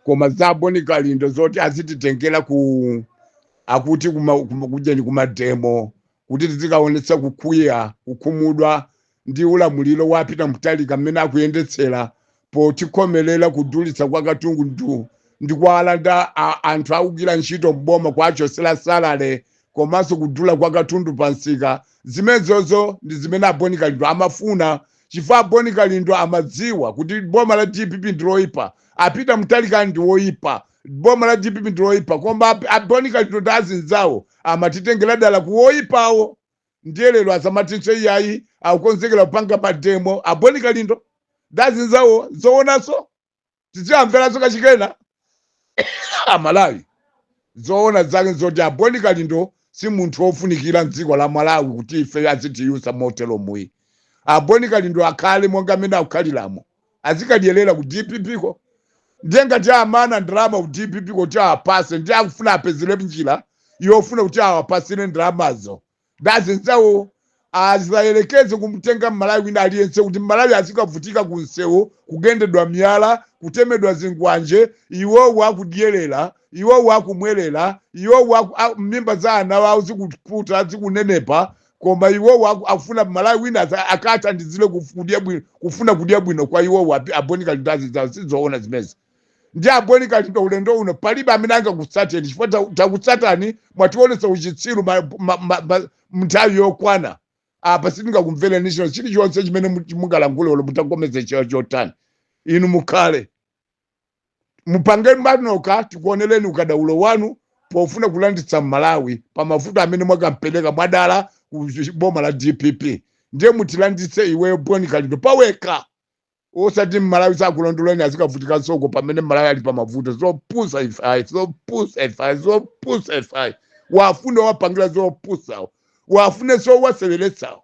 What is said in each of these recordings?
koma za boni kalindo zoti azititengera ku akuti kuma- kuma- kujeni kumademo kuti tizikaonetsa kukwiya kukhumudwa ndi ulamuliro wa peter mutharika mmene akuyendetsera potikhomelela kudulitsa kwa katundu ndi kuwalanda anthu akugwira ntchito mboma kuwachosela salale komanso kudula kwa katundu pa nsika zimenezozo ndi zimene aboni kalindo amafuna chifukwa aboni kalindo amadziwa kuti boma la dpp ndi loipa a peter mutharika ndi woipa boma la dpp ndi loipa koma ab- aboni kalindo ndi azinzawo amatitengera dala ku woipawo ndiye lero asamatinso iyayi akukonzekera kupanga mademo aboni kalindo ndazinzawo zoonanso tiziamveranso kachikena amalawi zoona zake nzoti aboni kalindo si munthu wofunikira mdziko la malawi kuti ife azitiyusa moteromu ayi aboni kalindo akhale monga mmene akukhaliramo azikadyerera ku dpp ko ndiye ngati amana ndalama ku dpp kuti awapase ndiye akufuna apezere njira yofuna kuti awapasire ndalamazo ndazinzawo azayerekeze kumtenga mmalawi wina aliyense kuti mmalawi azikavutika ku msewu kugendedwa miyala kutemedwa zingwanje iwowo akudyerera iwowo akumwerera iwowo aku- a- mimba za ana awo zikuputa zikunenepa koma iwowo aku- akufuna mmalawi wina asa- akathandizire kuf- kudya bwino kufuna kudya bwino kwa iwowo api- aboni kalindo azinzawo sizoona zimezi ndi aboni kalindo ulendo uno palibe amene angakutsateni chifukwa ta- takutsatani mwatiwonetsa uchitsiru ma- ma- ma- ma- mnthawi yokwana apa sitingakumvereninso chilichonse chimene mu- mungalankhule olo mutakomeza cho- chotani inu mukhale mupange panokha tikuoneleni ukadaulo wanu pofuna kulanditsa mmalawi pa mavuto amene mwakampeleka mwadala ku boma la dpp ndiye mutilanditse iweyo boni kalindo pawekha osati mmalawi sakulondoleni azikavutikansoko pamene mmalawi ali pa mavuto zopusa ife ayi zopusa ife ayi zopusa ife ayi wafune wapangira zopusawo wafunenso waseweretsawo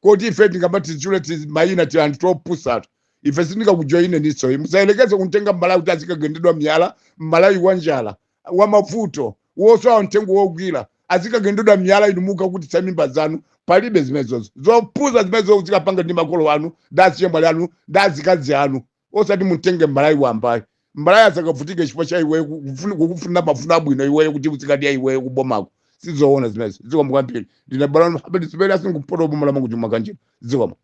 koti ife tingamatitchule timayina tianthu topusatu ife sitingakujoyineninso ayi musayelekeze kumtenga mmalawi kuti azikagendedwa miyala mmalawi wa njala wa mavuto wosowa mtengo wogwira azikagendedwa miyala inu mukakhutitsa mimba zanu palibe zimenezozo zopusa zimenezo zikapanga ndi makolo anu ndi azichemwali anu ndi azikazi anu osati mutenge mMalawi wamba ayi mMalawi azikavutika chifukwa cha iweyo kufuna- kukufunira mafuno abwino iweyo kuti uzikadya iweyo kubomako sizoona zimenezo zikomo kwambiri ndine balano mhabedi zipere asingupoto boma la Mangochi Makanjira zikomo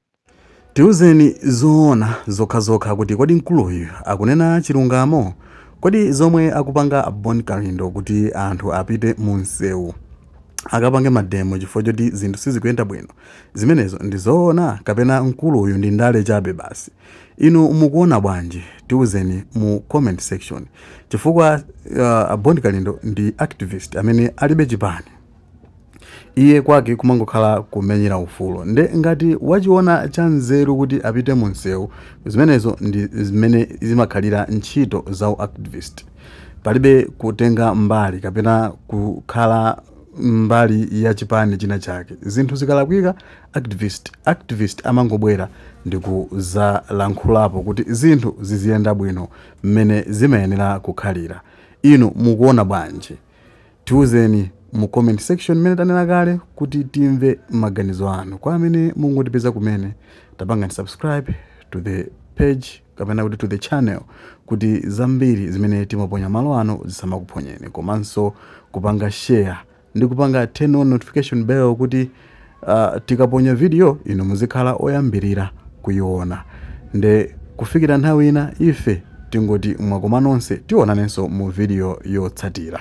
tiuzeni zoona zokhazokha kuti kodi mkuluyu akunena chilungamo kodi zomwe akupanga a bon kalindo kuti anthu apite mu msewu akapange mademo chifukwa choti zinthu sizikuyenda bwino zimenezo ndi zoona kapena mkuluyu ndi ndale chabe basi Inu mukuona bwanji? Tiuzeni mu comment section chifukwa Bon Kalindo ndi activist amene alibe chipani. Iye kwake kumangokhala kumenyera ufulu nde ngati wachiona cha nzeru kuti apite mu msewu zimenezo ndi zimene zimakhalira ntchito za u activist. Palibe kutenga mbali kapena kukhala mbali ya chipani china chake. Zinthu zikalakwika Activist activist amangobwera ndikuzalankhulapo kuti zinthu ziziyenda bwino mmene zimayenera kukhalira. Inu mukuona bwanji? Tiuzeni mu comment section mmene tanena kale kuti timve maganizo anu. Kwa amene mungotipeza kumene, tapangani subscribe to the page kapena kuti to the channel kuti zambiri zimene timaponya malo ano zisamakuphonyeni komanso kupanga share ndi kupanga turn on notification bell kuti uh, tikaponya video inu muzikhala oyambirira kuyiona nde kufikira nthawi ina ife tingoti mwakoma nonse tionanenso mu video yotsatira